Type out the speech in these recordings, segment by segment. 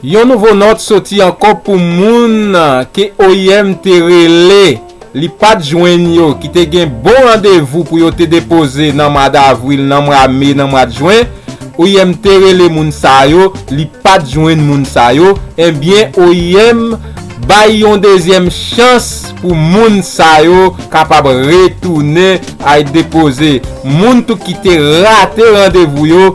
Yon nouvo nòt soti ankò pou moun ke oim te rele li pat jwenn yo ki te gen bon randevou pou yo te depoze nan mwa davril, nan mwa me, nan mwad jwen, oim te rele moun sa yo li pat jwenn moun sa yo, enbyen oim bay yon dezyèm chans pou moun sa yo kapab retounen ay depoze moun tou ki te rate randevou yo.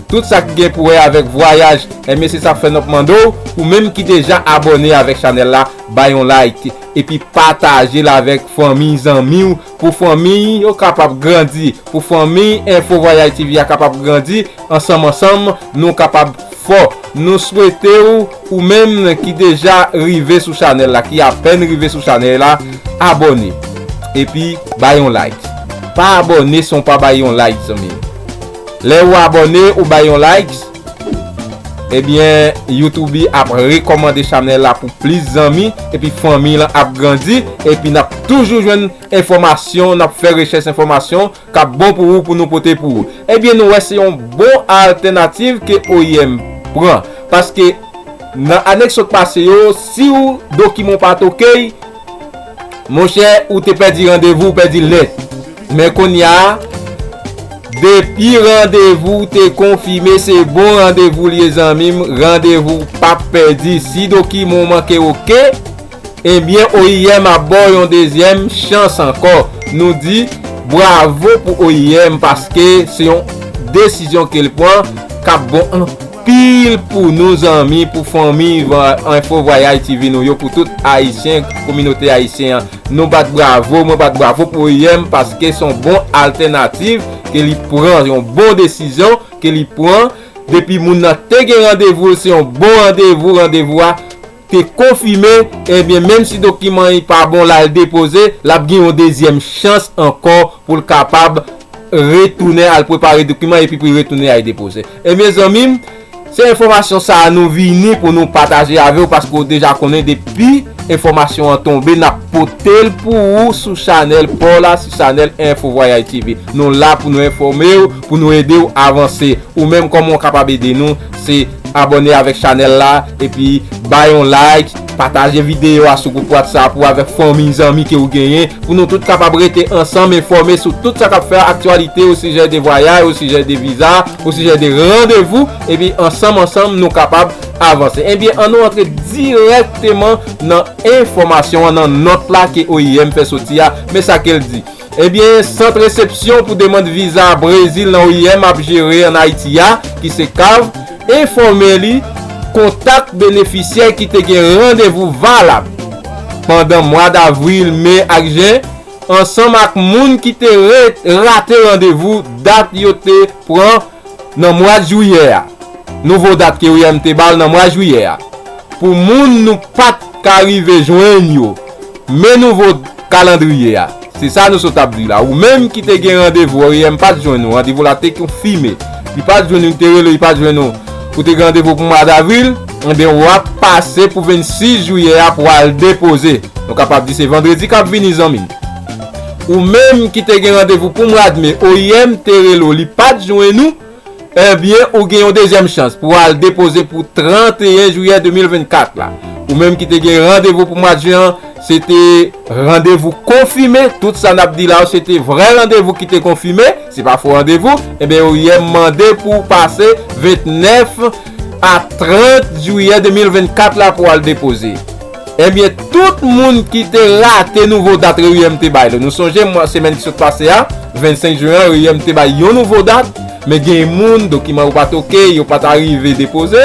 Tout sa ki gen pou wè avèk vwayaj enben se sa fè nap mande w ou menm ki deja abòne avèk chanèl la bay yon like epi pataje l avèk fanmiy zanmi w pou fanmiy yo kapab grandi pou fanmiy enfo vwayay TV a kapab grandi ansanm ansanm nou kapab fò nou swete w ou menm ki deja rive sou chanèl la ki apèn rive sou chanèy la abòne epi bay yon like pa abòne san w pa bay yon like zanmi m. Lè ou abòne ou bay yon likes ebyen youtoube ap rekòmande chanèl la pou plis zanmi epi fanmiy lan ap grandi epi nap toujou jwenn enfòmasyon nap fè rechèch enfòmasyon kap bon pou ou pou nou pote pou ou ebyen nou wè se yon bon altènativ ke oim pran paske nan ane k sot pase yo siw dokiman w pat ok Monchè ou te pèdi randevou ou pèdi l nèt men konnya depi randevou te konfime se bon randevou l ye zanmi m randevou w pap pèdi si dokiman w manke ok ebyen oim ap ba w yon dezyèm chans ankò nou di bwavo pou oim paske se yon desizyon ke l pran k ap bon anpil. Pil pou nou zanmi pou fanmi info vwayaj TV nou yo pou tout ayisyen kominote ayisyen an nou bat bravo mwen bat bravo pou EM paske son bon altènativ ke li pran yon bon desizyon ke li pran depi moun nan te gen randevou l se yon bon randevou randevou a te konfime ebyen menm si dokiman y pa bon lal depoze lap gen yon dezyèm chans ankò poul kapab retounen al prepare dokiman epi poul retounen al depoze ebyen zanmi m se enfòmasyon sa nou vini pou nou pataje avew paske ou deja konnen depi enfòmasyon an tonbe nap potel pou ou sou chanèl paw la sou chanèl info vwayay TV nou la pou nou enfòmew pou nou edew avanse ou menm kòman ou kapab ede nou. Se abone avèk chanèl la epi bay yon like, pataje videyo a sou gwoup WhatsApp ou avèk fanmiy zanmi ke ou genyen pou nou tout kapab rete ansanm enfòme sou tout sa kap fè aktyalite osijè de vwayay osijè de viza osijè de randevou epi ansanm ansanm nou kapab avanse ebyen an nou antre dirèkteman nan enfòmasyon an nan nòt la ke oim fè soti a men sa kel di. Ebyen, Sant Resepsyon pou Demand Viza Brezil nan oim ap jere an Ayiti a, ki se cav, enfòme li kontak benefisyè ki te gen randevou valab pandan mwa davril, me ak jen, ansanm ak moun ki te rate randevou dat yo te pran nan mwa jwiyè a, nouvo dat ke OIM te ba l nan mwa jwiyè a, pou moun nou pa t ka rive jwenn yo, men nouvo kalandriye a, se sa nou sot ap di la, ou menm ki te gen randevou OIM pa t jwenn ou, randevou la te konfime, li pa t jwenn ou, li te rele ou, li pa t jwenn ou, ou te gen randevou pou mwa davril, enben w ap pase pou 26 jwiyè a pou al depoze, nou kapab di se vandredi k ap vini zanmi m. Ou menm ki te gen randevou pou mwa de me oim te rele w li pat jwenn ou ebyen ou gen yon dezyèm chans pou w al depoze pou 31 jiyè 2024 la. Ou menm ki te gen randevou pou mwa de jen an se te randevou konfime tout sa n ap di la yo se te vrè randevou ki te konfime se pa fo randevou ebyen oim mande pou w pase 29 a 30 jiyè 2024 la pou w al depoze. Ebyen tout moun ki te rate nouvo dat reuyèm te bay la. Nou sonje mwa semèn ki sot pase a, 25 juin an, reuyèm te bay yon nouvo dat, men gen moun dokiman yo pat ok, yo pat arive depoze,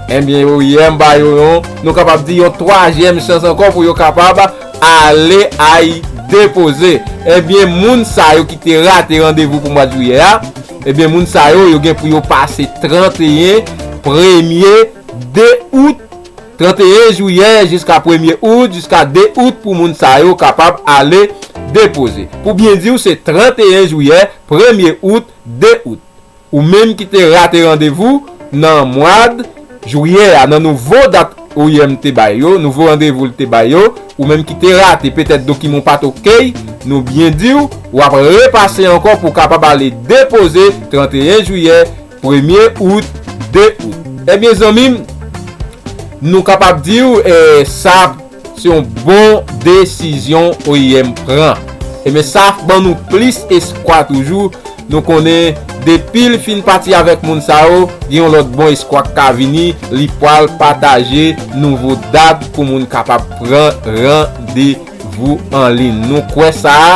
ebyen reuyèm ba yo yon, nou kapab di yon twazyèm chans ankò pou yo kapab ale ay depoze. Ebyen moun sa yo ki te rate randevou pou mwad juyè a, ebyen moun sa yo yo gen pou yo pase 31 premye 2 out. 31 jiyè jiska premye out jiska 2 out pou moun sa yo kapab ale depoze. Pou byen di w se 31 jiyè, premye out, 2 out. Ou menm ki te rate randevou nan mwad jiyè a nan nouvo dat oim te bay yo, nouvo randevou l te bay yo, ou menm ki te rate petèt dokiman w pa t okey, nou byen di w, w ap repase ankò pou w kapab ale depoze 31 jiyè. Premye out, de out. Ebyen zanmim, nou kapab diw sa se yon bon desizyon oim pran. Ebyen sa ban nou plis eskwa toujou, nou konnen depil fin pati avèk moun sa yo, gen yon lòt bon eskwa k ka vini, li pwal pataje nouvo dat pou moun kapab pran randevou. Gwo anlin nou kwè sa a,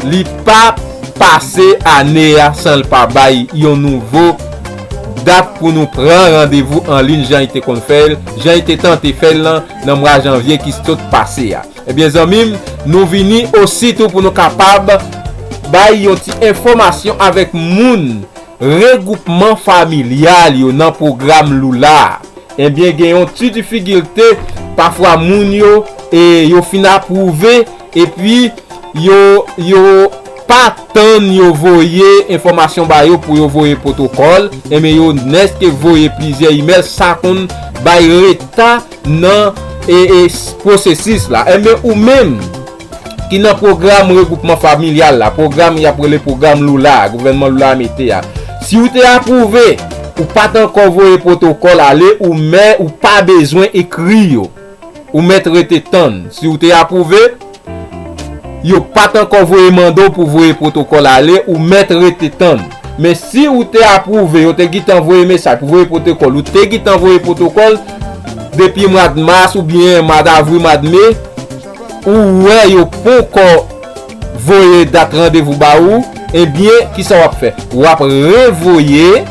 li pa pase ane a san l pa bay yon nouvo dat pou nou pran randevou anlin jan li te konn fè l, jan li te tante fè l lan nan mwa janvye ki sot pase a. Ebyen zanmi m, nou vini osi tou pou nou kapab bay yon ti enfòmasyon avèk moun Regwoupman familyal yo nan pwogram Lula a ebyen gen yon ti difigilte pafwa moun yo e yo fin apwouve epi yo yo pa tann yo voye enfòmasyon ba yo pou yo voye pwotokòl ebyen yo nèske voye plizyè imèl sa konn bay reta nan e e pwosesis la ebyen ou menm Ki nan pwogram regwoupman familyal la, pwogram y ap rele pwogram Lula a, gouvènman Lula a mete a. Si ou te apwouve, ou pa t ankò voye pwotokòl ale ou men ou pa bezwen ekri yo. Ou mèt rete tann. Si ou te apwouve, yo pa t ankò voye mande w pou voye pwotokòl ale ou mèt rete tann. Men si ou te apwouve, yo te gitan voye mesaj pou voye pwotokòl, ou te gitan voye pwotokòl depi mwad mas oubyen mwad avril, mwad me, ou wè yo ponkò voye dat randevou ba ou ebyen kisa wap fè wap revoye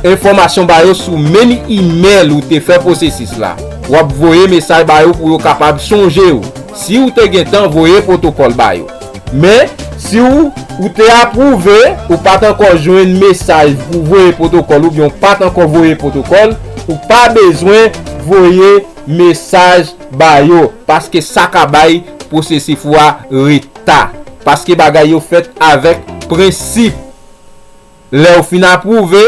enfòmasyon ba yo sou menm imèl ou te fè pwosesis la wap voye mesaj ba yo pou yo kapab sonje ou si ou te gentan voye pwotokòl ba yo men si ou te apwouve ou pat ankò jwenn mesaj pou voye pwotokòl oubyen ou pat ankò voye pwotokòl ou pa bezwen voye mesaj ba yo paske sa ka bay pwosesif ou a reta paske bagay yo fèt avèk prensip lèw fin apwouve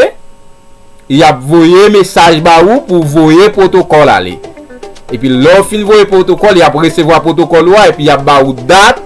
yap voye mesaj ba ou pou ou voye pwotokòl ale epi lèw fin voye pwotokòl yap resevwa pwotokòl ou a epi yap ba ou dat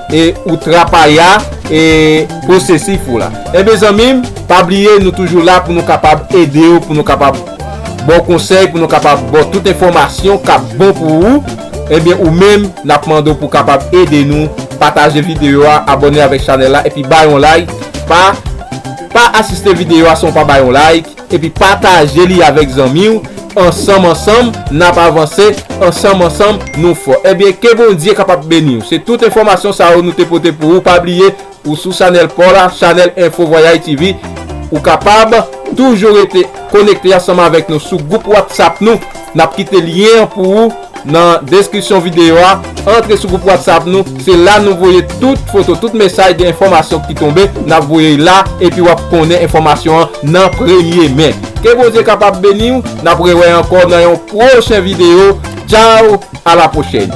E ou trapaya e posesif ou la. Enben zanmim pa bliye nou toujou la pou nou kapab edew pou nou kapab baw konsèy pou nou kapab baw tout enfòmasyon kap bon pou ou enben ou menm nap mandew pou kapab ede nou pataje videyo a abòne avèk chanèl la epi bay yon like pa pa asiste videyo a san ou pa bay yon like. Epi pataje li avèk zanmi w ansanm ansanm nap avanse ansanm ansanm nou fò ebyen ke bondye kapab beniw se tout enfòmasyon sa yo nou te pote pou ou pa bliye ou sou chanèl paw la chanèl enfo vwayay TV ou kapab toujou rete konekte ansanm avèk nou sou gwoup whatsapp nou nap kite lyen an pou ou. Nan deskripsyon videyo a, antre sou gwoup WhatsApp nou, se la nou voye tout foto, tout mesaj de enfòmasyon ki tonbe, nap voye y la, epi wap konnen enfòmasyon an nan premye men. Ke Bondye kapab beniw, nap rewè ankò nan yon pwochen videyo, tchao a la pwochèn.